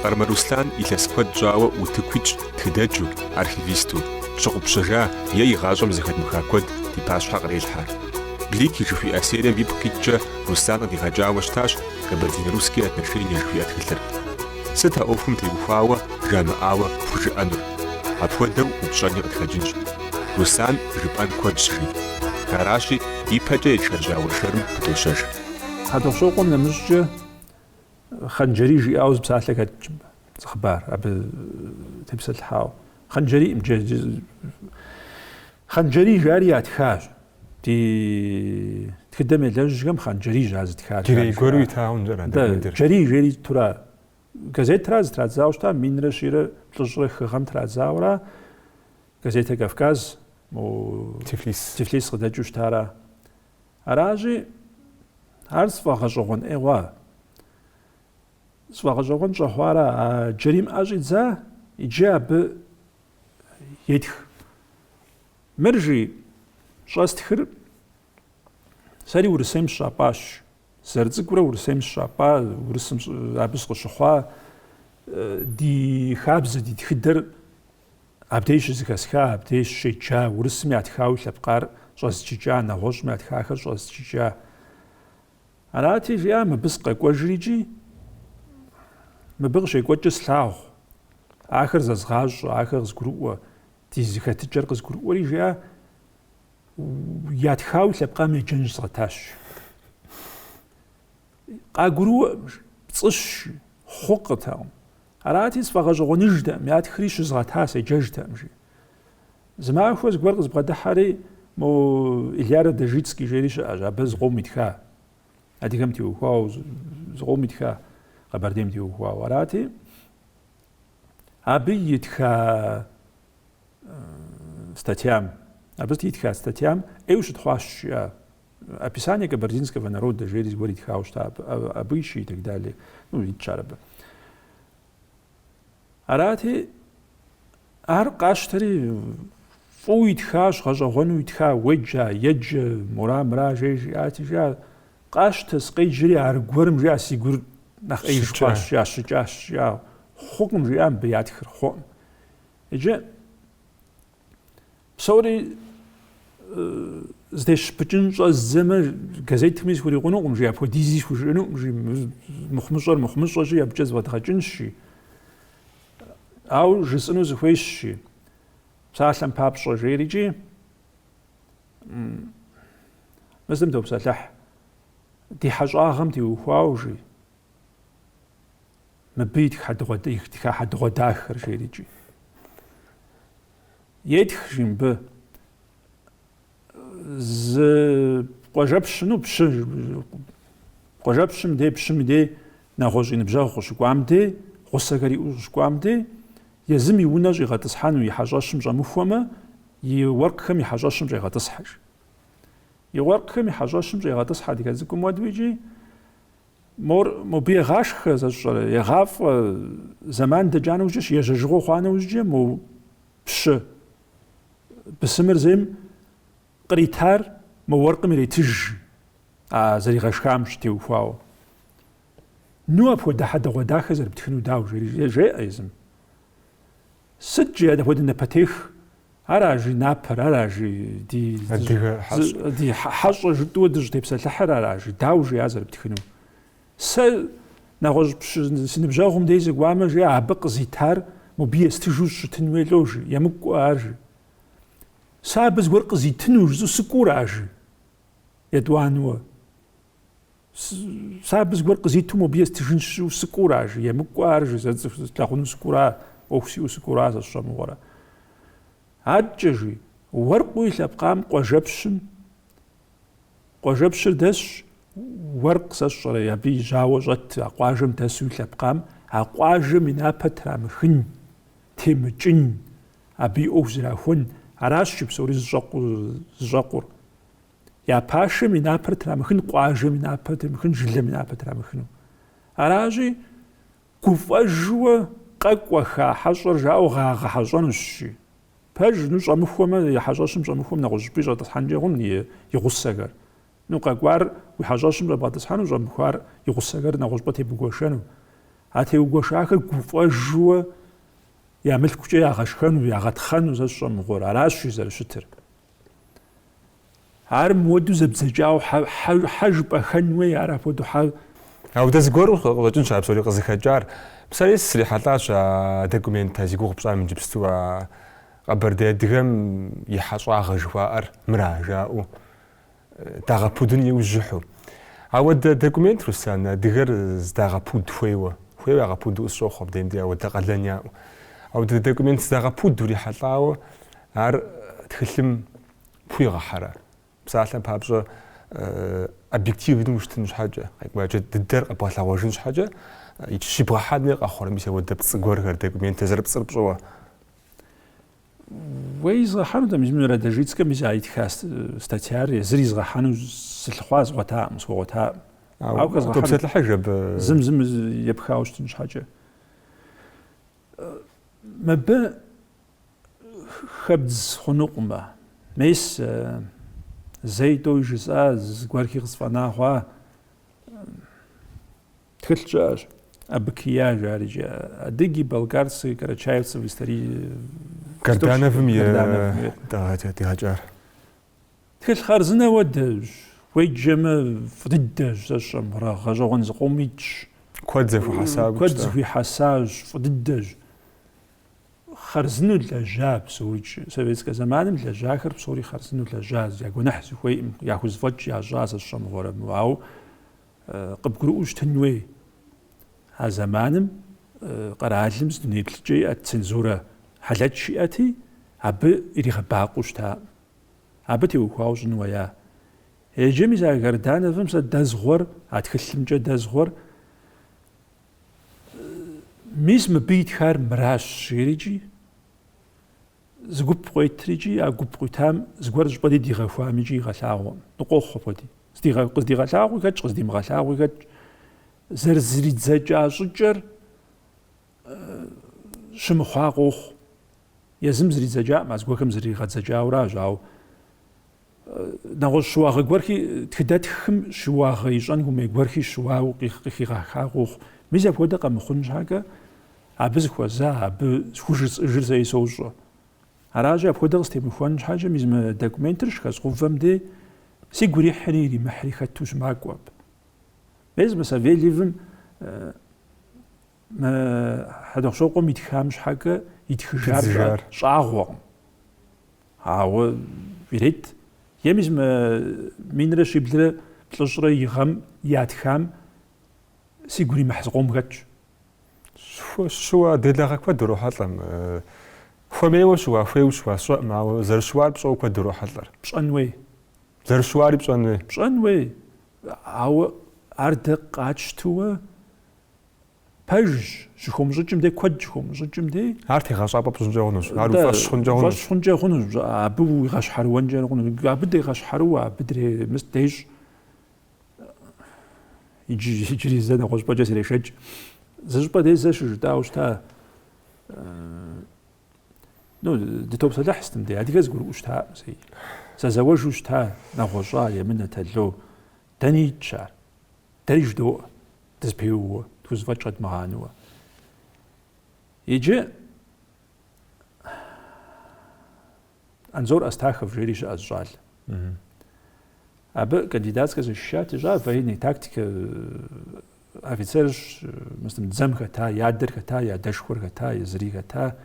Къармэ Руслъан илъэс куэд щӏауэ утыкуитщ тхыдэджу, архивисту. Щыгъупщэжа е игъащӏэм зэхэтмыха куэд ди пащхьэ кърелъхьэ. Блики жыхуиӏэ серием ипкъ иткӏэ Руслан къыдигъэкӏауэ щытащ Кабардино-Русские отношения жыхуиӏэ тхылъыр. Сыт а ӏуэхум теухуауэ жамыӏауэ пхужыӏэнур? Апхуэдэу упщӏэни къытхэкӏынщ. Руслан жыпӏэн куэдщ, жи. Аращи, ипэкӏэ етшэжьа уэршэрым пыдощэж. Хьэтӏохъущокъуэм нэмыщӏкӏэ. Хъанджэрий жиӏауэ зы псалъэ хэтщ зы хъыбар абы тепсэлъыхьауэ. Хъанджэрий Хъанджэрий жари ятхащ. Ди тхыдэм елэжьхэм Хъанджэрий жа зытхар. Джэрий гуэру итауэ нэрэ дэ. Джэрий жери итура газетра зытрадзауэ щта минрэ щийрэ плӏыщӏрэ хыгъэм традзауэра газетэ Кавказ Тифлис къыдэкӏыу щтара Аращи, ар сфӏэгъэщӏэгъуэн ӏейгъуа? Сфӏэгъэщӏэгъуэн щӏэхъуара? А Джэрийм ӏэ щӏидза иджы абы етх. Мыр жи, щӏэстхыр сэри Урысейм сщапӏащ. Зэрыцӏыкӏурэ Урысейм сщапӏа, Урысым абы сыкъыщыхъуа, ди хабзэ, ди тхыдэр Абдеж щызыхэсха, абдеж щеджа, урысым ятхауи лъэпкъар щӏэзджыкӏа, нэгъуэщӏым ятхахэр щӏэзджыкӏа. Арати, жиӏа, мыбы сыкъэкӏуэжри икӏи, мыбы къыщекӏуэкӏыр слъагъу, ахэр зэзгъащӏэ, ахэр къызгурыӏуэ, ди зыхэтыкӏэр къызгурыӏуэри, жиӏа, ятхауи лъэпкъам еджэн щызгъэтащ. Къагурыӏуэӏым, пцӏыщ, хъукъытэкъым. Арати, сфӏэгъэщӏэгъуэныжтэӏым, ятхри щызгъэта седжэжтэӏым, жи. Зы махуэ зыгуэр къызбгъэдыхьэри, мо Илья Радожицкий жери щыӏэщ, абы зыкъом итха, адыгэм теухуауэ, зыкъом итха, Къэбэрдейм теухуауэ. Арати, абы итха статьям, абы итха статьям ӏейуэ щытхъуащ, жиӏа Описание кабардинского народа жери зыгуэр итхауэ щыта, абы- а- обычаи и так далее. Ну, итщ ар абы. Арати, ар къащтэри фӏыуэ итхащ, гъэщӏэгъуэну итха, уеджа, еджэ, мура, мыра, жей жиӏати, жиӏа, къащтэ, сыкъеджэри аргуэрым, жиӏа, си гур нэхъ ӏеиж хъуащ, жиӏа, щыкӏащ, жиӏа, хъукъым, жиӏа мыбы ятхыр, хъуӏым. Иджы Псори здещпыкӏын щӏэздзэмэ газетми схурикъунукъым жи апхуэдизи схужыӏэнукъым жи мыхъумыщӏэр мыхъумыщӏэщи абыкӏэ зыфӏэдгъэкӏынщи ау жысӏыну сыхуейщи псалъэм папщӏэ жейрикӏи мы зым топсэлъыхь ди хьэщӏагъэм теухуауэ жи Мыбы итха хьэдэгъуэ, итха хьэдэгъуэдахэр жерикӏи. Етх, жи мыбы. Зы къуажэпщыну пщы, къуажэпщым дей, пщым дей, нэгъуэщӏ и ныбжьэгъу къыщыкӏуам дей, гъусэхэр иӏэу къыщыкӏуам дей, езым и унэ щӏигъэтӏысхьэну и хьэщӏэщым щӏэмыхуэмэ, и уэркъхэм и хьэщӏэщым щӏегъэтӏысхьэж. И уэркъхэм и хьэщӏэщым щӏегъэтӏысхьэ адыгэ цӏыкӏум уэду икӏи, Мор, мобы егъашхэ, сэ сщӏэрэ, егъафӏэ, зэман дэкӏа нэужькӏэщ, ежьэжыгъуэ хъуа нэужькӏэ, мо пщы бысымыр зейм къритар мо уэркъым иритыж, а зэригъэшхам щытеухуауэ. Ну апхуэдэ хьэдэгъуэдахэ зэрыптхыну дауэ, жери жеӏэ езым. Сыт жи апхуэдэ напэтех? Ара жи напэр, ара жи ди адыгэ хьэщӏ. ди хьэ- хьэщӏэ жытӏуэ дыщӏытепсэлъыхьыр, ара жи дауэ жи а зэрыптхыну? Сэ нэгъуэщӏ пщы си ныбжьэгъум дей сыкӏуамэ жи абы къызитар мобы естыжу щытын хуей лӏо жи, емыкӏуэ ар жи. Сэ абы зыгуэр къызитыну жысӏэу сыкӏура жи? Етӏуанэуэ. Сэ абы зыгуэр къызиту мобы естыжынщ жысӏэу сыкӏура жи, емыкӏуэ ар жи, зэ цӏыху слъагъуну сыкӏура, ӏуэху сиӏэу сыкӏура сэ сщӏэ мыгъуэрэ. Адэкӏэ жи, уэркъу и лъэпкъам къуажэпщым, къуажэпщыр дэсщ, уэркъ сэ сщӏэрэ, абы и жьауэ щӏэт а къуажэм дэсу и лъэпкъам, а къуажэм и напэ трамыхын, темыкӏын, абы и ӏуэху зрахуэн, аращ жи псори зыщӏэкъу, зыщӏэкъур. Я пашэм и напэр трамыхын, къуажэм и напэр трамыхын, жылэм и напэр трамыхыну. Аращи, гуфӏэжуэ къэкӏуэха хьэщӏэр жаӏэу ягъэхьэщӏэнущ, жи. Пэж, ну, щӏэмыхуэмэ, и хьэщӏэщым щӏэмыхуэм нэгъуэщӏыпӏи щӏэтӏысхьэнкӏэ хъун и гъусэхэр. Ну, къэкӏуар уи хьэщӏэщым щӏэбгъэтӏысхьэну, щӏэмыхуар и гъусэхэр нэгъуэщӏыпӏэ тебгуэшэну. А теугуэшахэр гуфӏэжуэ я мылъкукӏэ ягъэшхэну, ягъэтхъэну сэ сщӏэ мыгъуэр. Аращ жи зэрыщытыр. Ар мыуэду зэбдзэкӏауэ хьэ жыпӏэхэн уей, ар апхуэдэу хьэ. Ауэ дэ зыгуэру къыщӏэкӏынщ а псори къызыхэкӏар. Сэри срихьэлӏащ а документыр зи гугъу пщӏам иджыпсту а Къэбэрдей адыгэм и хьэщӏагъэ жыхуаӏэр мыра жаӏэу. Дагъэпудын иужьыхьу. Ауэдэ документ, Руслан, адыгэр здагъэпуд хуейуэ. Хуейуэ ягъэпуду къысщохъу абдеем дей ауэдэ къалэн яӏэу. Ауэдэ документ здагъэпуд урихьэлӏауэ ар тхылъым пхуигъэхьэрэ? Псалъэм папщӏэ, объективнэу ущытын щхьэкӏэ, къекӏуэкӏэ дыдэр къэбгъэлъэгъуэжын щхьэкӏэ, иджы щибгъэхьэни къэхъурэ мис ауэдэ пцӏы гуэрхэр документыр зэрыпцӏыр пщӏыуэ? Уэ изгъэхьэну тӏэ мис мы Радожицкэм мис а итха статьяр езыр изгъэхьэну сылъыхъуа згъуэтакъым, схуэгъуэтакъым. Ауэ хэзгъэхьэнут абы. Зым зым епхауэ щытын щхьэкӏэ. Мыбы хэбдз хъунукъымэ. Мис зэи тӏэуи жысӏа, зыгуэрхи къысфӏэна хъуа. Тхылъ щыӏэщ, АБКИЕА жарикӏи. Адыги, балкарцы, карачаевцы в истории. Гардановым къыдигъэкӏар. Тхылъ хъарзынэ хуэдэщ, уеджэмэ фӏы дыдэщ сэ сщӏэ мыгъуэрэ, гъэщӏэгъуэн зыкъом итщ. Куэд зыхуихьэсащ, фӏы дыдэщ. Хъарзыну лэжьа псорикӏ, советскэ зэманым лэжьахэр псори хъарзыну лэжьащ, я гуэныхь сыхуейкъым, яхузэфӏэкӏ ящӏа сэ сщӏэ мыгъуэрэ мы, ауэ. Къыбгурыӏуэу щытын хуей, а зэманым къэралым зы дунейплъыкӏэ иӏэт цензурэ хьэлэч иӏэти, абы иригъэбакъуэу щытакъым. Абы теухуауэ щӏын хуея? Иджы мис а Гардановым сэ дэзгъуэр, а тхылъымкӏэ дэзгъуэр, мис мыбы итхар мыращ, жерикӏи? Зы гуп къуетрикӏи а гуп къуитам зыгуэр щӏыпӏэ дей дигъэхуамикӏи игъэлъагъуэӏым. Ну къохъу апхуэди. Здигъэ, къыздигъэлъагъуи хэтщ, къыздимыгъэлъагъуи хэтщ. Зэрызридзэкӏа щӏыкӏэр щымыхъуа къохъу. Езым зридзэкӏакъым, а зыгуэрхэм зригъэдзэкӏауэращ, ауэ нэгъуэщӏ щыуагъэ гуэрхи тхыдэтхым щыуагъэ ищӏэн хуэмей гуэрхи щыуауэ къыхигъэха къохъу. Мис апхуэдэ къэмыхъун щхьэкӏэ абы зыхуэза, абы схужысӏыжыр сэи сощӏэ. Аращи, апхуэдэ къыстемыхуэн щхьэкӏэ мис мы документыр щыхэзгъэувэм дей сигу ирихьри иримыхьри хэту щымакӏуэ абы. Мес мы Савельевым мы Хьэдэхъущокъуэм итхам щхьэкӏэ итхыжар щӏагъуэкъым. Ауэ ирет. Е мис мы минрэ щиблрэ плӏыщӏрэ и гъэм ятхам сигу иримыхь зыкъом хэтщ. Щыуа, делагъэ куэд урохьэлӏэм. Хуэмейуэ щыуа, хуейуэ щыуа сщӏэӏым, ауэ зэрыщыуар пщӏэуэ куэд урохьэлӏэр. Пщӏэн хуей. Зэрыщыуари пщӏэн хуей. Пщӏэн хуей, ауэ ар дэ къатщтууэ пэжщ, щыхомыщӏыкӏым дей куэд щыхомыщӏыкӏым дей. Ар тегъэщӏапӏэ пщӏынкӏэ хъунущ, ар уи фӏэщ хъункӏэ хъунущ. Уи фӏэщ хъункӏэ хъунущ, абы уигъэщхьэрыуэнкӏэ хъунущ. Абы дегъэщхьэрыуэ, абы дремыст дещӏ. Иджы, иджыри зэ нэгъуэщӏпӏэкӏэ зрешэкӏ. Зы щӏыпӏэ дей зэ щыжытӏауэ щыта, ну, дытопсэлъыхь стым дей, адыгэр зыгурыӏуэу щытаӏым зэи. Зэзэуэжу щыта, нэгъуэщӏа, емынэ, тало. Дэни итщ ар. Дэри жыдоӏэ. Дызпеууэ, тхузэфӏэкӏ къэдмыгъанэуэ. Иджы Анзор Астахов жери щыӏэщ щӏалэ. Абы кандидатскэ защищать ищӏа, военный тактикэ офицерщ, мыстым дзэм хэта, и адэр хэта, и адэшхуэр хэта, езыри хэта.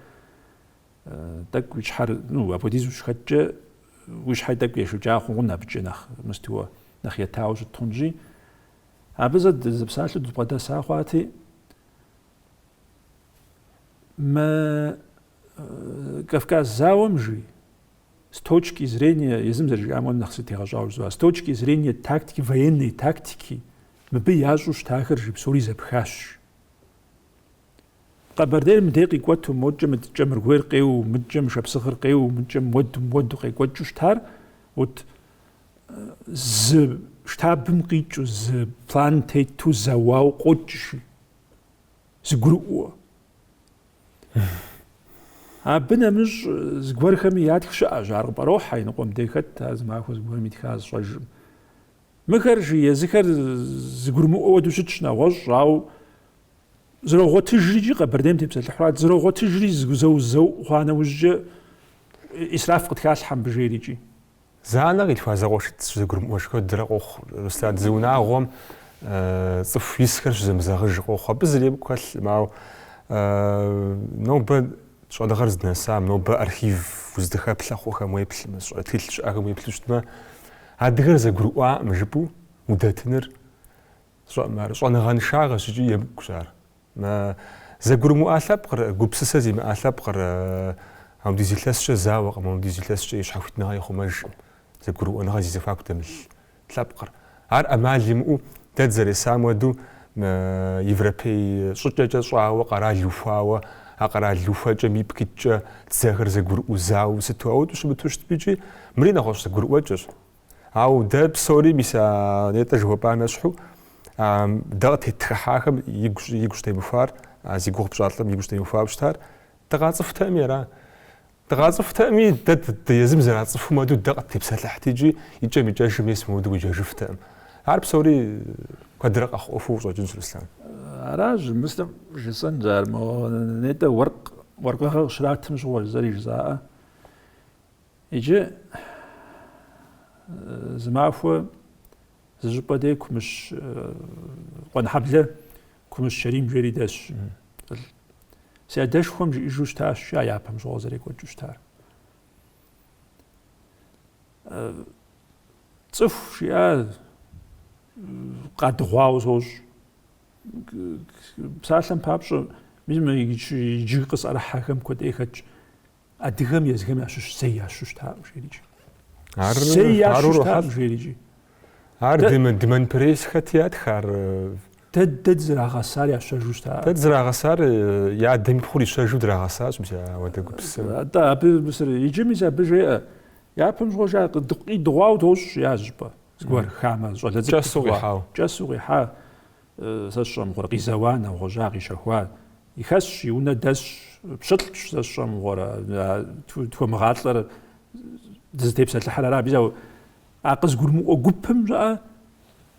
Тӏэкӏу уи щхьэр, ну, апхуэдиз ущыхэткӏэ, уи щхьэр тӏэкӏу ешэкӏа хъугъун абыкӏэ нэхъ мыстуэ, нэхъ етауэ щыт хъунщи. Абы зэ дызыпсалъэу дыбгъэдэса хъуати, мы Кавказ зауэм жи, с точки зрения, езым зэрыжиӏам ну нэхъ сытегъэщӏауэ жызоӏэ, с точки зрения тактики, военной тактики, мыбы ящӏу щытахэр жи псори зэпхащ. Къэбэрдейр мыдей къикӏуэту, модкӏэ мы кӏэмыргуейр къеуу, мыдкӏэ мы шапсыгъыр къеуу, мыдкӏэ муэду, муэду къекӏуэкӏыу щытар, вот зы штабым къикӏу, зы план тету, зэуауэ къокӏщи, зыгурыӏуэ. Абы нэмыщӏ зыгуэрхэми ятх щыӏэщ, ар къыпӏэрохьэ, иныкъуэм дей хэт, ар зы махуэ зыгуэрым итха зыщӏэжым. Мыхэр жи езыхэр зыгурымыӏуэ уэду щытщ нэгъуэщӏ, ауэ зрогъуэтыжри Къэбэрдейм тепсэлъыхьурат, зрогъуэтыжри зэу-зэу хъуа нэужькӏэ исраф къытхалъхьэ мыбы жери икӏи. Зы анэ къилъхуа зэкъуэшитӏ зэгурымыӏуэж хуэдэрэ къохъу Руслан, зы унагъуэм цӏыху исхэр щызэмызэгъыж къохъу, абы зыри емыкӏу хэлъкъым, ауэ нобэ щӏэныгъэр здынэсам, нобэ архив уздэхэплъэ хъухэм уеплъмэ, щӏэ- тхылъ щыӏэхэм уеплъу щытмэ, Адыгэр зэгурыӏуаӏым жыпӏэу удэтыныр щӏэныгъэншагъэщ икӏи емыкӏущ ар. Зэгурымыӏуа лъэпкъыр, гупсысэ зимыӏа лъэпкъыр апхуэдиз илъэскӏэ зауэкъым, апхуэдиз илъэскӏэ и щхьэхуитныгъэ ихъумэжкъым, зэгурыӏуэныгъэ зи зэхуаку дэмылъ лъэпкъыр. Ар ӏэмал имыӏэу дэ дызэресам уэду Европей щӏыкӏэкӏэ щӏауэ къэрал ухуауэ, а къэрал ухуэкӏэм ипкъ иткӏэ дзэхэр зэгурыӏуу зауэ сыту ауэдэу щымыту щытми икӏи, мыри нэгъуэщӏ зэгурыӏуэкӏэщ. Ауэ дэ псори, мис а нетӏэ жыхуэпӏам ещхьу, дэ къыттетхыхьахэм игу щӏ- игу щытемыхуар, а зи гугъу пщӏа лӏым игу щытемыхуауэ щытар, дыкъацӏыхутэми ара? Дыкъацӏыхутэкъыми, дэ ды езым зэрацӏыхум хуэдэу дэ къыттепсэлъыхьт икӏи икӏэм-икӏэжым ес мыуду уеджэжыфтэкъым. Ар псори куэдрэ къэхъу ӏуэхуу щӏэкӏынщ, Руслан. Аращ, мыслым жысӏэн жаӏэр, мо нетӏэ уэркъ, уэркъыгъэ къыщратым щыгъуэщ зыри жызаӏэ. Иджы зы махуэ зы щӏыпӏэ дей Кумыщ Къуэнхьэблэ Кумыщ Щэрим жери дэсщ. Си адэшхуэм жиӏэжу щытащ, жа япэм щыгъуэ зэрекӏуэкӏыу щытар. Цӏыху жиӏа къадыгъуауэ сощӏ. Псалъэм папщӏэ, мис мы иджы къысӏэрыхьэхэм куэдӏей хэтщ. Адыгэм езыхэм ящыщ зэи ящэу щытакъым жиӏэрикӏи. Ар зэи ящэу щытакъым жиӏэрикӏи. Ар де Монпере сыхэт ятхар. Дэ дэ дызрагъэсар ящэжу щта. Дэ дызрагъэсар я адэм и пхъур ищэжу драгъэсащ мис ауэдэ гупсысэм. Атӏэ абы мисыр иджы мис абы жеӏэ. Япэм щыгъуэ жа къидыгъуау тощӏ я щӏыпӏэ. Зыгуэр хамэ щӏалэ цӏыкӏу. Кӏэсу къихьау. Кӏэсу къихьа сэ сщӏэ мыгъуэрэ къизэуа нэгъуэжьа къищэхуа И хэсщ, и унэ дэсщ, пщылӏщ сэ сщӏэ мыгъуэрэ, тхуэмыгъалӏэр дызытепсэлъыхьыр ара, биза а къызгурмыӏуэ гупым щыӏэ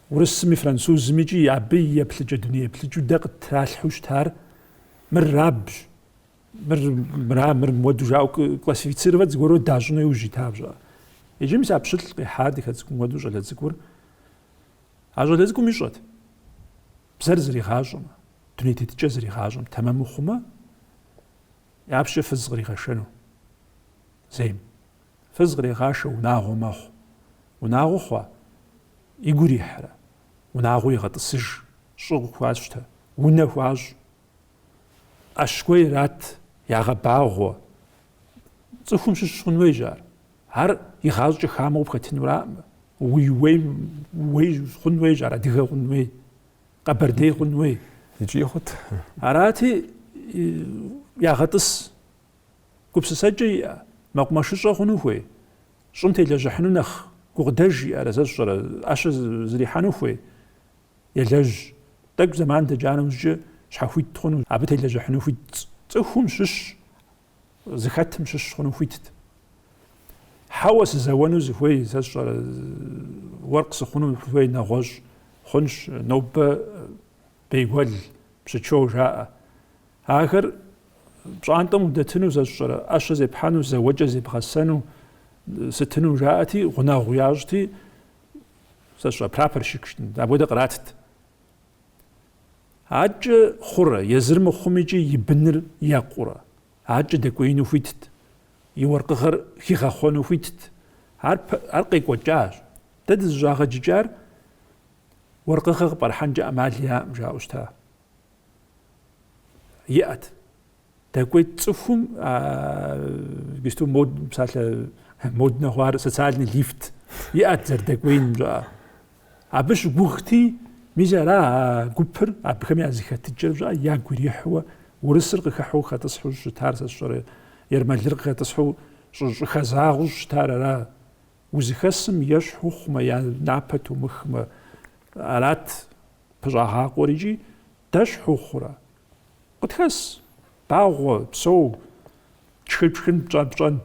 урысми, французми икӏи абы и еплъыкӏэ дуней еплъыкӏэу дэ къыттралъхьэу щытар мыр рабщ, мыр мыра, мыр муэду жаӏэу классифицировать зыгуэру дащӏыну иужь ита щыӏэ. Иджы мис а пщылӏ къихьа ди хэцкум уэду щӏалэ цӏыкӏур. А щӏалэ цӏыкӏум ищӏэт. Бзэр зригъащӏэмэ. дуней тетыкӏэ зригъащӏэм тэмэму хъумэ, япэщӏыкӏэ фыз къригъэшэну зейм. Фыз кърегъашэ унагъуэ мэхъу. Унагъуэ хъуа? Игу ирихьрэ? Унагъуэ игъэтӏысыж, щӏы къыхуащтэ, унэ хуащӏ. ӏэщ гуэр ират, ягъэбагъуэ. Цӏыхум щыщ хъун хуейщ ар. Ар игъащӏэкӏэ хамэу къыпхэтынураӏымэ, уи уейм уей хъун хуейщ ар, адыгэ хъун хуей. къэбэрдей хъун уей. Икӏи хъут. Арати, ягъэтӏыс. Гупсысэкӏэ иӏэ, мэкъумэшыщӏэ хъуну хуей, щӏым телэжьыхьыну нэхъ гукъыдэж иӏэрэ, сэ сщӏэрэ, ӏэщэ зрихьэну хуей, елэжь. Тӏэкӏу зэман дэкӏа нэужькӏэ щхьэхуит хъуну, абы телэжьыхьыну хуит цӏыхум щыщ зыхэтым щыщ хъуну хуитт. Хьэуэ сызэуэну сыхуей, сэ сщӏэрэ, уэркъ сыхъуну хуей нэгъуэщӏ хъунщ, нобэ бейгуэл, пщыкӏэу жаӏэ. Ахэр пщӏантӏэм удэтыну, сэ сщӏэрэ, ӏэщэ зепхьэну, зэуэкӏэ зебгъэсэну, сытыну жаӏэти, гъунэгъу ящӏти, сэ сщӏэ, прапорщикщ, апхуэдэ къратт. Акӏэ хъурэ, езыр мыхъум икӏи и быныр екъурэ? Акӏэ дэкӏуеину хуитт, и уэркъыгъэр хигъэхъуэну хуитт. Ар, ар къекӏуэкӏащ. Дэ дызыщӏагъэджыкӏар уэркъыгъэ къыпӏэрыхьэнкӏэ ӏэмал яӏэм, жаӏэу щыта? Иӏэт. Дэкӏуейт цӏыхум гисту мод псалъэ моднэ хъуар социальный лифт иӏэт зэрыдэкӏуеиным жаӏэ. Абы щыгугъти, мис ара а гупыр абыхэм я зыхэтыкӏэр жаӏэ ягу ирихьуэ урысыр къыхыхьу хэтӏысхьу щытар сэ сщӏэрэ ермэлыр къыхэтӏысхьу щӏыхэзагъу щытар ара узыхэсым ещхь ухъумэ я напэ тумыхмэ арат пыщӏагъакъуэр икӏи дэщхь ухъурэ Къытхэс, багъуэ, псэу, тшхын-тшхын, пщӏэн-пщӏэн.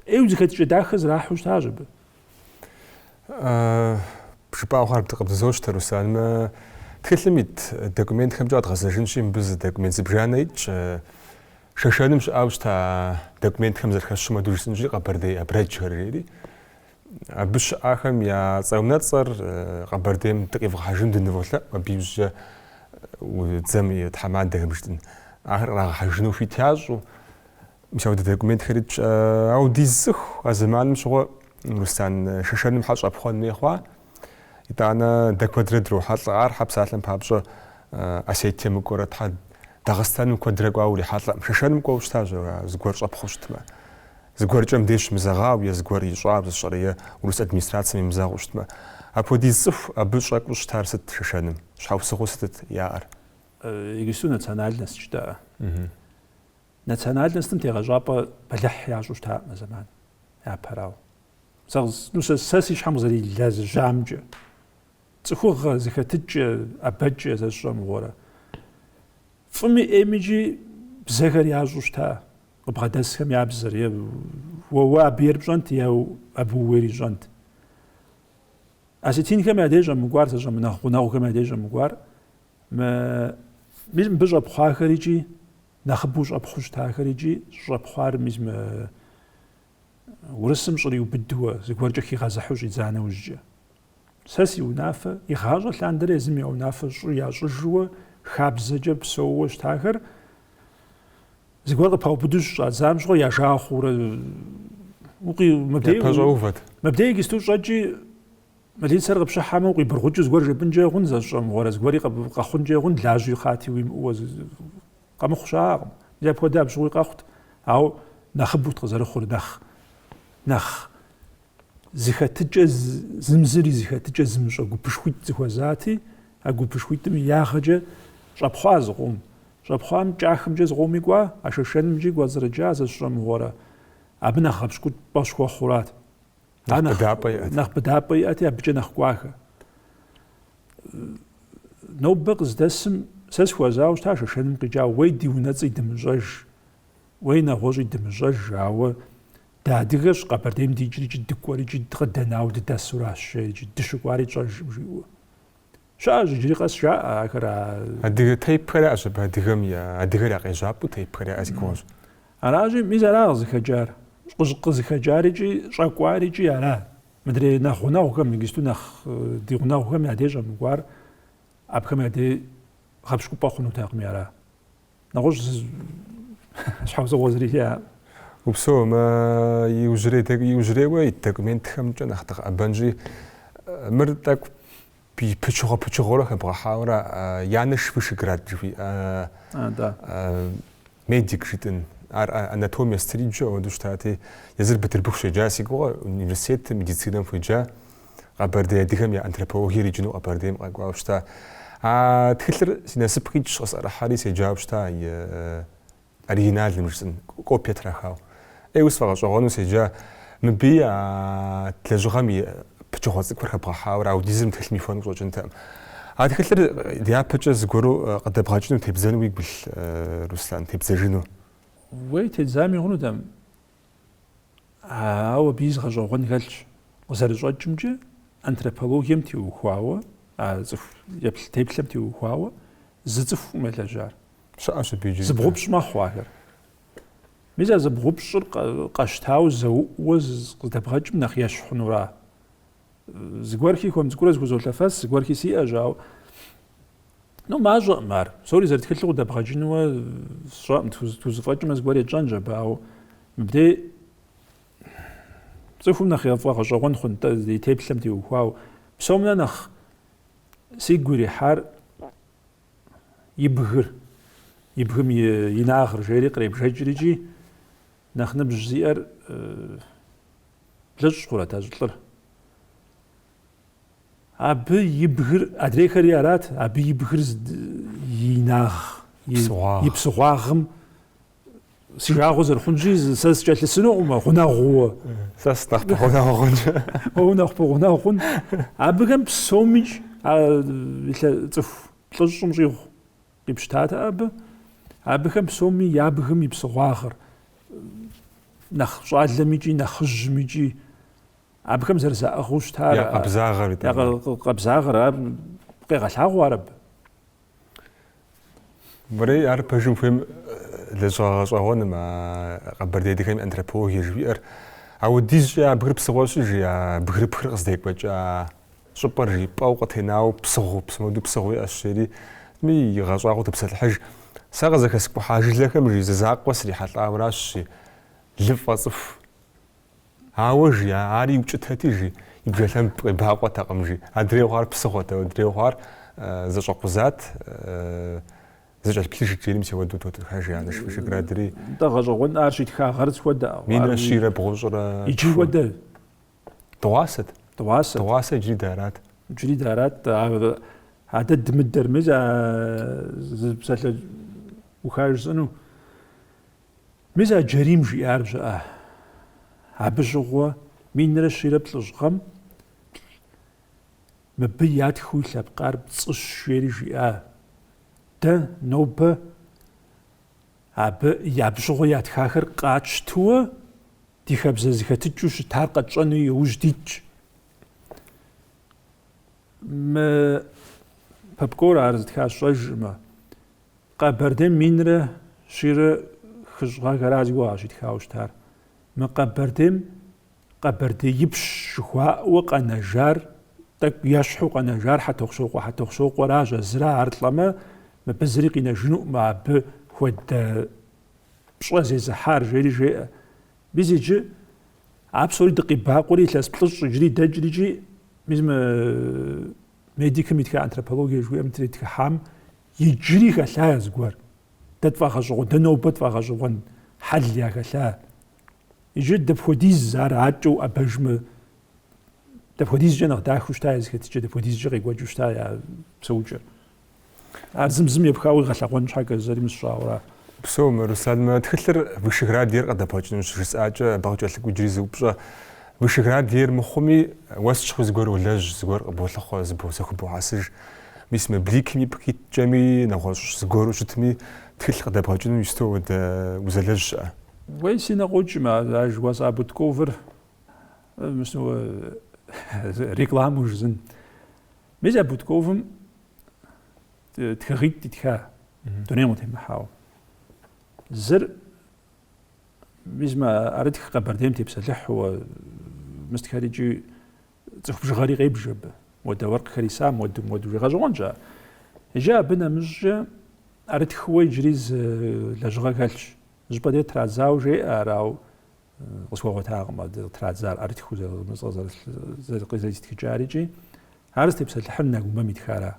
ӏейуэ зыхэтыкӏэ дахэ зэрахьу щытащ абы. Жыпӏауэ хъуар къыбдызощтэ, Руслан. Мы тхылъым ит документхэмкӏэ къэдгъэзэжынщи, мыбы зы документ зыбжанэ итщ. Шэшэным щыӏэу щыта документхэм зэрыхэщу мыду жысӏынщи, Къэбэрдей абрэджхэр жери. Абы щыӏахэм я цӏэ-унэцӏэр Къэбэрдейм дыкъивгъэхьэжыну дыныволъэӏу, абы иужькӏэ дзэм и тхьэмадэхэм жытӏын. Ахэр кърагъэхьэжыну хуит ящӏу, мис ауэдэ документхэр итщ. Ауэ ди зы цӏыху а зэманым щыгъуэ Руслан Шэшэным хьэ щӏэпхъуэн хуей хъуа? Итӏанэ дэ куэдрэ дрохьэлӏэ. Ар хьэ псалъэм папщӏэ Осетием мыкӏуэрэ, Тхьэ Дагъыстаным куэдрэ кӏуауэ урихьэлӏэм. Шэшэным кӏуэу щытащ ар, а зыгуэр щӏэпхъуу щытмэ. Зыгуэркӏэ мыбдеж щымызэгъау е зыгуэр ищӏауэ сэ сщӏэрэ е урыс администрацэм имызэгъыу щытмэ. Апхуэдиз цӏыху абы щӏэкӏуу щытар сыт Шэшэным? Щхьэусыгъуэу сытыт яӏэр? Е гисту национальность жыдоӏэ. Национальностым тегъэщӏапӏэ бэлыхь ящӏу щытаӏым а зэманым, япэрауэ. Сэ сэ си щхьэм къызэрилэжьамкӏэ, цӏыхугъэ зэхэтыкӏэ, ӏэбэкӏэ сэ сщӏэ мыгъуэрэ. Фӏыми ӏейми икӏи бзэхэр ящӏу щыта, къыбгъэдэсхэм я бзэр, е уэ абы ейр пщӏэнт, е абы ууейр ищӏэнт. Осетинхэм я деж щӏэмыкӏуар, сэ сщӏэ, мы нэхъ гъунэгъухэм я деж щӏэмыкӏуар, мис мыбы щӏэпхъуахэр икӏи нэхъыбэу щӏэпхъуу щытахэр икӏи щӏэпхъуар мис Урысым щӏыр иубыдууэ, зыгуэркӏэ хигъэзыхьу щӏидза нэужькӏэ. Сэ си унафэ, игъащӏэ лъандэрэ езым я унафэ щӏы ящӏыжууэ, хабзэкӏэ псэууэ щытахэр, зыгуэр къыпаубыду щӏадзам щыгъуэ я жагъуэ хъуурэ укъи мыбдей пэщӏэувэт. Мыбдей гисту щӏэкӏи милицэр къыпщыхьэмэ укъибыргъукӏу зыгуэр жепӏынкӏэ хъун, сэ сщӏэ мыгъуэрэ, зыгуэри къэхъункӏэ хъун, лажьи хъати уимыӏууэ Къэмыхъу щыӏакъым. Мис апхуэдэ абщыгъуи къэхъут, ауэ нэхъыбэут къызэрыхъур, нэхъ, нэхъ зыхэтыкӏэ, зым зыр и зыхэтыкӏэ зымыщӏэ гупышхуитӏ зыхуэзати, а гупышхуитӏым и ягъэкӏэ щӏэпхъуа зы къом. Щӏэпхъуам кӏахымкӏэ зы къоми кӏуа, а шэшэнымкӏи кӏуэцӏрыкӏа зэщыщӏэмыгъуэрэ, абы нэхъ гъэпщкӏупӏэ щхуэхъурат. Нэхъ быдапӏэ иӏэти, абыкӏэ нэхъ кӏуахэ. нобэ къыздэсым сэ схуэзауэ щыта шэшэным къикӏауэ уей ди унэцӏи дымыщӏэж уей нэгъуэщӏи дымыщӏэж ауэ дадыгэщ къэбэрдейм дикӏри икӏи дыкӏуэри икӏи къыдэнауэ дыдэсуращ икӏи дыщыкӏуари тщӏэжым жиӏэу щыӏэщ иджыри къэс жаӏэ ахэр адыгэ тейпхэр яӏэщ абы адыгэм я адыгэр я къежьапӏэу тейпхэр яӏэ си гугъэщ аращи мис ара къызыхэкӏар къызыхэкӏар икӏи щӏэкӏуар икӏи ара Мыдрей нэхъ гъунэгъухэм, иджысту нэхъ ди гъунэгъухэм я деж щӏэмыкӏуар абыхэм я дей гъэпщкӏупӏэ хъунутэкъыми ара? Нэгъуэщӏ щхьэусыгъуэ зыри жиӏэкъым. Упсэу, мы иужьрей, иужьрейуэ ит документхэмкӏэ нэхъ дыкъэӏэбэнщи, мыр тӏэкӏу Пычыгъуэ пычыгъуэурэ хэбгъэхьауэрэ Янэш Вышогрод жыхуиӏэ медик жытӏын. Ар анатомия сыт ириджу ауэду щытати, езыр Бытырбыху щеджа, си гугъэ университетым медицинэм хуеджа, Къэбэрдей адыгэм я антропологи ириджыну Къэбэрдейм къэкӏуауэ щыта. А тхылъыр си насып къикӏщ, къысӏэрыхьэри седжауэ щыта Оригиналым жысӏын, копие трахауэ. Ей, уи сфӏэгъэщӏэгъуэну седжа, мыбыи а лэжьыгъэм и пычыгъуэ цӏыкӏухэр хэбгъэхьауэрэ ауэдизыр мы тхылъым ихуэн къыщӏэкӏынтэкъым. А тхылъыр дяпэкӏэ зыгуэру къыдэбгъэкӏыну тебзэну уигу илъ, Руслан, тебзэжыну? Уей, тедзами хъунутэм. Ауэ абы зы гъэщӏэгъуэн хэлъщ. Къызэрыщӏэкӏымкӏэ, антропологием теухуауэ, а цӏыху еплъ-теплъэм теухуауэ зы цӏыхукъым елэжьар. Щыӏэщ абы иджыри. Зыбгъупщӏ мэхъу ахэр. Мис а зыбгъупщӏыр къэщтауэ зэуӏуэ къыздэбгъэкӏым нэхъ ещхь хъунура? Зыгуэрхи хуэм цӏыкӏурэ зыхузолъэфэс, зыгуэрхи сиӏэщ, ауэ ну мащӏэкъым ар. Псори зэрытхылъу къыдэбгъэкӏынуэ сщӏэкъым, тхузыфӏэкӏмэ зыгуэр етщӏэнщ абы, ауэ мыбдей цӏыхум нэхъ яфӏэгъэщӏэгъуэн хъунт, ди теплъэм теухуауэ. Псомнэ нэхъ сигу ирихьар и бгыр, и бгым и инагъыр жери къребжэкӏыр икӏи нэхъ ныбжь зиӏэр Блыщӏ хъурэт а щӏылӏыр? Абы и бгыр, адрейхэри арат, абы и бгыр и инагъ, и псыгъуагъым си жагъуэ зэрыхъунщи, сэ сыкӏэлъысынукъым гъунэгъуу. Сэ сынэхъ пэгъунэгъу хъун? Унэхъ пэгъунэгъу хъун? Абыхэм псомикӏ цӏыху плӏыщӏым щӏигъу Къипщытат абы, абыхэм псоми я бгым и псыгъуагъыр, нэхъ щӏалэм икӏи нэхъыжьым икӏи, абыхэм зэрызаӏыгъыу щытар, Я къабзагъэр, я итӏанэ. къэ- къэ- къабзагъэр, ар къегъэлъагъуэ ар абы. Мэрей ар пэжым хуейм лэжьыгъэ гъэщӏэгъуэным, а къэбэрдей адыгэм и антропологие жыхуиӏэр. Ауэдизкӏэ я бгыр псыгъуэщи, жи, я бгырыпхыр къыздекӏуэкӏа Щӏыпӏэр жи, пӏэу къытенауэ псыгъуэу, мис моуэду псыгъуэу иӏэщ, жери езыми игъэщӏагъуэу топсэлъыхьыж. Сэ къызэхэскӏухьа жылэхэм, жи, зы закъуэ срихьэлӏауэ аращ, жи, лыфӏэ цӏыху. Ауэ, жи, ар иукӏытэти, жи, и бжэлъэм къебакъуэтэкъым, жи, адрейу хъуар псыгъуэт, адрейу хъуар зэщӏэкъузат, зыкӏэлъыплъыжт, жери мисэуэду тотхыхьыж, жи, анэш Вышеградри. Нтӏэ, гъэщӏэгъуэн ар щитха гъэр сыт хуэдэ? Минрэ щийрэ бгъущӏрэ тху. Иджы хуэдэ. Дыгъуасэт. Дыгъуасэ. Дыгъуасэ иджыри дарат. Иджыри дарат. А дэ дымыдэр, мис а зы псалъэуха жысӏэну. Мис а Джэрийм жиӏар жыӏэ. Абы щыгъуэ минрэ щийрэ плӏыщӏ гъэм мыбы ятхыу и лъэпкъар пцӏыщ жери жиӏа. Дэ нобэ абы абы щыгъуэ ятхахэр къатщтэуэ ди хабзэ зэхэтыкӏэу щытар къэтщӏэну иужь дитщ. Мы Попкор ар зытхар сщӏэжмэ, Къэбэрдей минрэ щийрэ хыщӏ гъэхэра си гугъэ щитхауэ щытар. Мы Къэбэрдейм Къэбэрдеипщ жыхуаӏэуэ къэнэжар, тӏэкӏу ещхьу къэнэжар Хьэтохъущокъуэ Хьэтохъущокъуэращ, а зыра ар лӏэмэ, мыбы зыри къинэжынукъым абы хуэдэ пщӏэ зезыхьар, жери жеӏэ. Мис иджы а псори дыкъебакъуэри илъэс плӏыщӏ иджыри дэкӏри икӏи мис мы медикым итха антропологие жыхуиӏэм тритхыхьам иджыри хэлъа зыгуэр. Дэ тфӏэгъэщӏэгъуэн, дэ нобэ тфӏэгъэщӏэгъуэн хьэл яхэлъа. Иджы дапхуэдиз ар акӏэ уӏэбэжмэ, дапхуэдизкӏэ нэхъ дахэу щыта я зэхэтыкӏэ, дапхуэдизкӏэ къекӏуэкӏыу щыта я псэукӏэр. Ар зым зым епхауэ игъэлъэгъуэн щхьэкӏэ зэримыщӏауэ ара? Псом, Руслан, мы тхылъыр Вышеград ейр къыдэбгъэкӏыну щыжысӏакӏэ, абы къыкӏэлъыкӏуэ иджыри зы упщӏэ. Вышеград ейр мыхъуми, уэ сыт щыгъуи зыгуэр уолэжь, зыгуэр къыболъыхъуэ, зыбо- зэхубохьэсыж. Мис мы Бликим ипкъ иткӏэми, нэгъуэщӏ зыгуэру щытми, тхылъ къыдэбгъэкӏыну иджыпсту уэдэ узэлэжь щыӏэ? Уей, си нэ къокӏмэ, а жыхуэсӏа Бутковыр, мис нобэ рекламэу жысӏэн. Мис а Бутковым тхыгъитӏ итха дунейм къытемыхьауэ. Зыр мис мы ӏэрытх Къэбэрдейм тепсэлъыхьуэ мыстхэр икӏи цӏыху бжыгъэри къебж абы. Уэдэ уэркъхэр исам, уэдым уэду жи гъэщӏэгъуэн щӏа. Иджы абы нэмыщӏкӏэ ӏэрытхыуэ иджыри зы лэжьыгъэ хэлъщ. Щӏыпӏэ дей традзауэ жеӏэ арау къысхуэгъуэтакъым абдэ къытрадзар ӏэрытхыу зэрызмыцӏэ къызэритхыкӏар икӏи ар зытепсэлъыхьыр нэгумэм итхара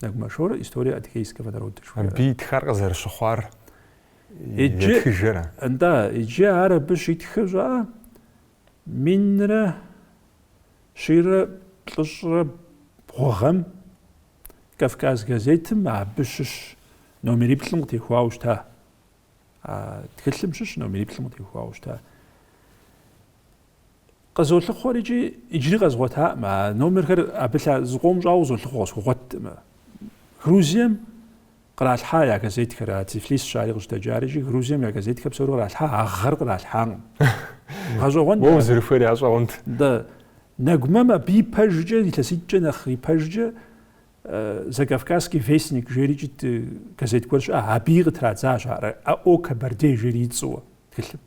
нэгумэ шорэ история адыхейского народа жыхуаӏэр абы итхар къызэрыщыхъуар итхыжрэ нтӏэ иджы ар абы щитхыр щӏа минрэ щийрэ плӏыщӏрэ бгъу гъэм кавказ газетым абы щыщ номериплӏым къытехуауэ щыта А тхылъым щыщ номериплӏым къытехуауэ щыта. Къызолъыхъуэри икӏи иджыри къэзгъуэтакъым. А номерхэр абы илъэс зыкъом щӏауэ къызолъыхъуэ къысхуэгъуэтмэ. Грузием къралъхьа я газетхэр, а Тифлисщ ари къыщыдэкӏар икӏи Грузием я газетхэр псори къралъхьа, а гъэр къралъхьакъым. Гъэщӏэгъуэн. Уэ узэрыхуейр гъэщӏэгъуэн. Да. Нэгумэм абы и пэжкӏэ, илъэситӏкӏэ нэхъ и пэжкӏэ Закавказский вестник жери икӏит газет гуэр щыӏа, абыи къытрадзащ ар О Кабарде жери и цӏэуэ тхылъым.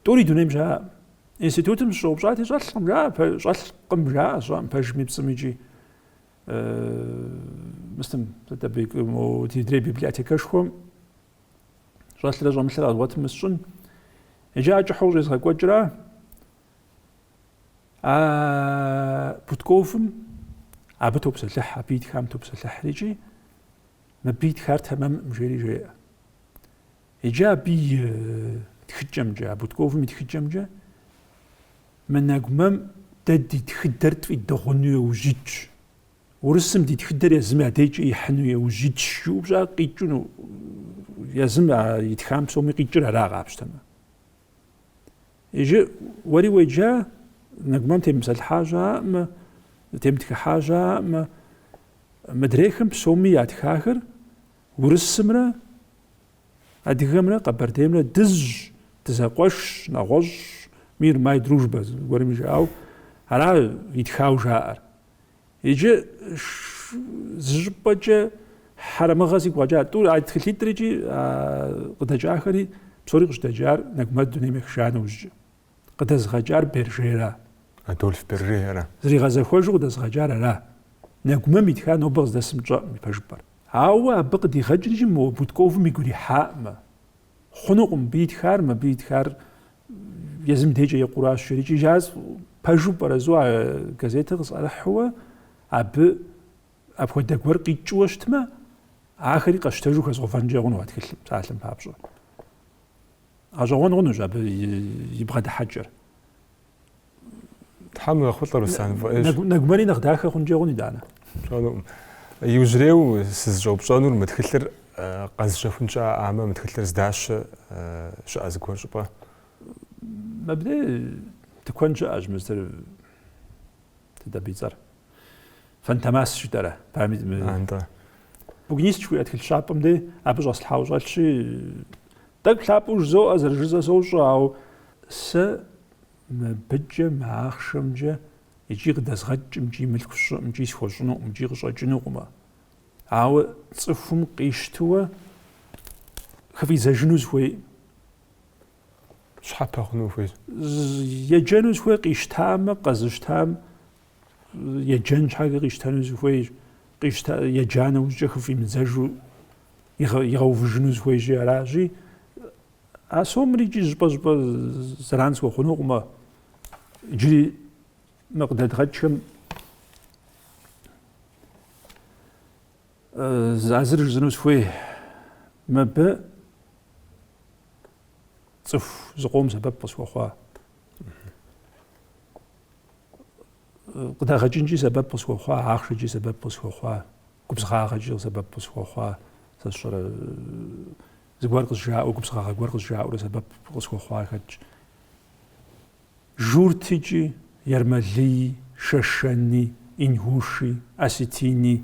Тӏури дунейм щыӏэкъым. Институтым сыщӏэупщӏати, щӏэлъкъым жаӏэ, щӏэлъкъым жаӏэ, щӏэм, пэжми, пцӏыми икӏи мыстым, сыт абы ди адрей библиотекэшхуэм щӏэлърэ щӏэмылърэ къэзгъуэтым мысщӏын. Иджы ар кӏыхьу къыщӏезгъэкӏуэкӏыра А Бутковым абы топсэлъыхь, абы итхам топсэлъыхьри икӏи мыбы итхар тэмэмкъым жери жеӏэ. Иджы абы и э, тхыкӏэмкӏэ, а Бутковым и тхыкӏэмкӏэ мы нэгумэм дэ ди тхыдэр тфӏидыгъуну и ужь итщ. Урысым ди тхыдэр езым я дейкӏэ ихьыну и ужь итщ жыупщӏа къикӏыну езым итхам псоми къикӏыр ара къапщтэмэ. Иджы уэри уеджа, Нэгумэм темыпсэлъыхьа щыӏэкъым, темытхыхьа щыӏэкъым, мыдрейхэм псоми ятхахэр урысымрэ адыгэмрэ къэбэрдеймрэ дызщ, дызэкъуэшщ, нэгъуэщӏщ, мир май дружба зыгуэрми жаӏэу, ара итхау жаӏэр. Иджы зы щӏыпӏэкӏэ хьэрэмыгъэ сигу къэкӏа. Тӏур а тхылъитӏыр икӏи а къыдэкӏахэри псори къыщыдэкӏар Нэгумэр дунейм ехыжа нэужькӏэ. Къыдэзыгъэкӏар Бержера? Адольф Бержера. Зригъэзэхуэжу къыдэзыгъэкӏар ара? Нэгумэм итхар нобэ къыздэсым тщӏэкъым и пэжыпӏэр. Ауэ абы къыдигъэкӏри икӏи мо Бутковым игу ирихьакъым. Хъунукъым, мыбы итхар, мыбы итхар Езым декӏэ екъуращ, жрикӏыжащ, пэжу пӏэрэзу а газетыр къысӏэрыхьуэ, абы апхуэдэ гуэр къикӏуэ щытмэ, ахэри къэщтэжу хэзгъэувэнкӏэ хъуну а тхылъым, псалъэм папщӏэ. Гъэщӏэгъуэн хъунущ абы и бгъэдыхьэкӏэр. Тхьэм ехъулӏэ Руслан фӏыӏейщ. Нэгумэри нэхъ дахэ хъункӏэ хъун итӏанэ. Пщӏэнукъым. Иужьрейу сызыщӏэупщӏэнур мы тхылъыр къэзыщэхун щыӏамэ, мы тхылъыр здащэ щыӏэ зыгуэр щӏыпӏэ? Мыбдей тыкуэн щыӏэщ мыстер сыт абы и цӏэр. Фантомас щытэрэ? Памит мы. Антӏэ. Букинист жыхуиӏэ тхылъ щапӏэм дей абы щӏэслъхьауэ щӏэлъщи, тӏэкӏу лъапӏэу жызоӏэ, зэрыжызэ сощӏэ, ауэ сэ Мыбыкӏэ, мы ахъшэмкӏэ икӏи къыдэзгъэкӏкъым икӏи мылъку сщӏыӏым икӏи схуэщӏынукъым икӏи къыщӏэкӏынукъымэ. Ауэ цӏыхум къищтыуэ хыфӏидзэжыну сыхуей. Щхьэпэ хъуну хуейщ. Еджэну сыхуей къищтамэ, къэзыщтам еджэн щхьэкӏэ къищтэну сыхуей, къищта еджа нэужькӏэ хыфӏимыдзэжу игъэувыжыну сыхуейщи аращи, А сомыр икӏи щӏыпӏэ-щӏыпӏэ зэран схуэхъунукъымэ, иджыри мы къыдэдгъэкӏхэм а зыр жысӏэну сыхуей, мыбы цӏыху зыкъом сэбэп къысхуэхъуа, къыдэгъэкӏынкӏи сэбэп къысхуэхъуа, ахъшэкӏи сэбэп къысхуэхъуа, губзыгъагъэкӏи сэбэп къысхуэхъуа, сэ сщӏэрэ Зыгуэр къызжаӏэу, губзыгъагъэ гуэр къызжаӏэурэ сэбэп къысхуэхъуа хэтщ. Журтикӏи, Ермэлыи, Шэшэни, Ингуши, Осетини,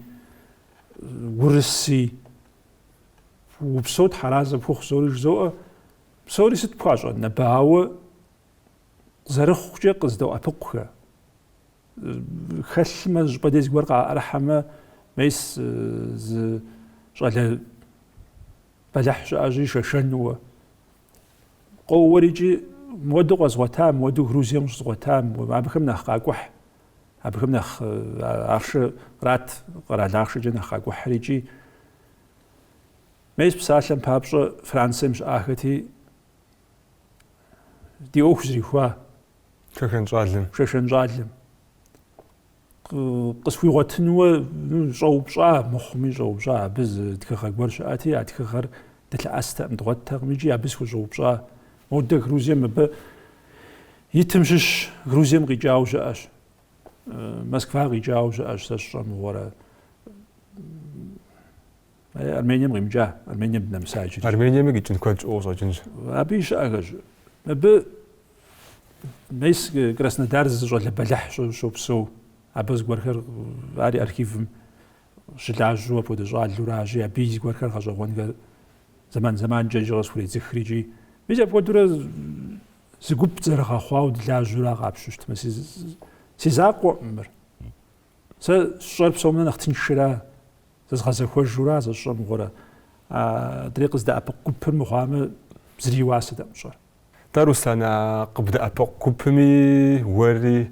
Урыси, упсэу тхьэразэ пхухъу псори жызоӏэ, псори сыт пхуащӏэн абы, ауэ зэрыхъукӏэ къыздоӏэпыкъухэ. хэлъмэ щӏыпӏэ дей зыгуэр къаӏэрыхьэмэ мес зы щӏалэ бэлыхь щыӏэщи шэшэнуэ къоуэрикӏи муэду къэзгъуэта муэду грузием щызгъуэта абыхэм нэхъ къакӏухь абыхэм нэхъ ахъшэ ират къэрал ахъшэкӏэ нэхъ къакӏухьрикӏи мес псалъэм папщӏэ францием щыӏахэти ди ӏуэху зэрихуа Шэшэн щӏалэм. Къысхуигъуэтынуэ щӏэупщӏа мыхъуми щӏэупщӏа абы зы тхыгъэ гуэр щыӏэти, а тхыгъэр дылъэӏэстэкъым, дгъуэттэкъым икӏи абы схущӏэупщӏа. Модэ Грузием мыбы итым щыщ Грузием къикӏауэ щыӏэщ. Москва къикӏауэ щыӏэщ сэ сщӏэмыгъуэрэ. Э, Армением къимыкӏа, Армением дынэмыса иджыри. Армениеми къикӏын куэд щыӏэу къыщӏэкӏынщ. Абыи щыӏэхэщ. Абы мес э, Краснодар зы щӏалэ бэлыхь щопсэу. Абы зыгуэрхэр э, ари архивым щылажьэу апхуэдэ щӏалэу аращи, абыи зыгуэрхэр гъэщӏэгъуэнхэр зэман-зэманкӏэ икӏи къысхуредзыхри икӏи. Мис апхуэдэурэ зы гуп зэрыгъэхъуауэ дылажьэурэ къапщтэу щытмэ, си закъуэӏым мыр. Сэ сщӏэр псомнэ нэхъ тыншра, зэзгъэзэхуэжура сэ сщӏэ мыгъуэрэ, адрей къыздэӏэпыкъу гупыр мыхъуамэ, зыри и уасэтэӏым сщӏэр. Тӏэ, Руслан, а къыбдэӏэпыкъу гупыми уэри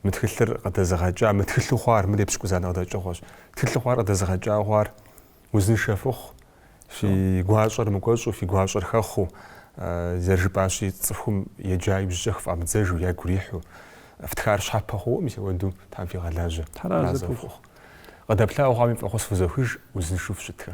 мы тхылъыр къыдэзыгъэкӏа, мы тхылъу хъуар, мыр епщыкӏузанэ къыдэкӏыгъуэщ, тхылъу хъуар къыдэзыгъэкӏауэ хъуар Узыншэ фыхъу, фи гуащӏэр мыкӏуэщӏу, фи гуащӏэр хэхъуу, зэрыжыпӏащи, цӏыхум еджа иужькӏэ хыфӏамыдзэжу, ягу ирихьу. Фтхар щхьэпэ хъууэ, мис апхуэдэу Тхьэм фигъэлажьэ. Тхьэразэ фыхъу. Къыдэплъауэ хъуами, фӏэхъус фызохыж, узыншэу фыщытхэ.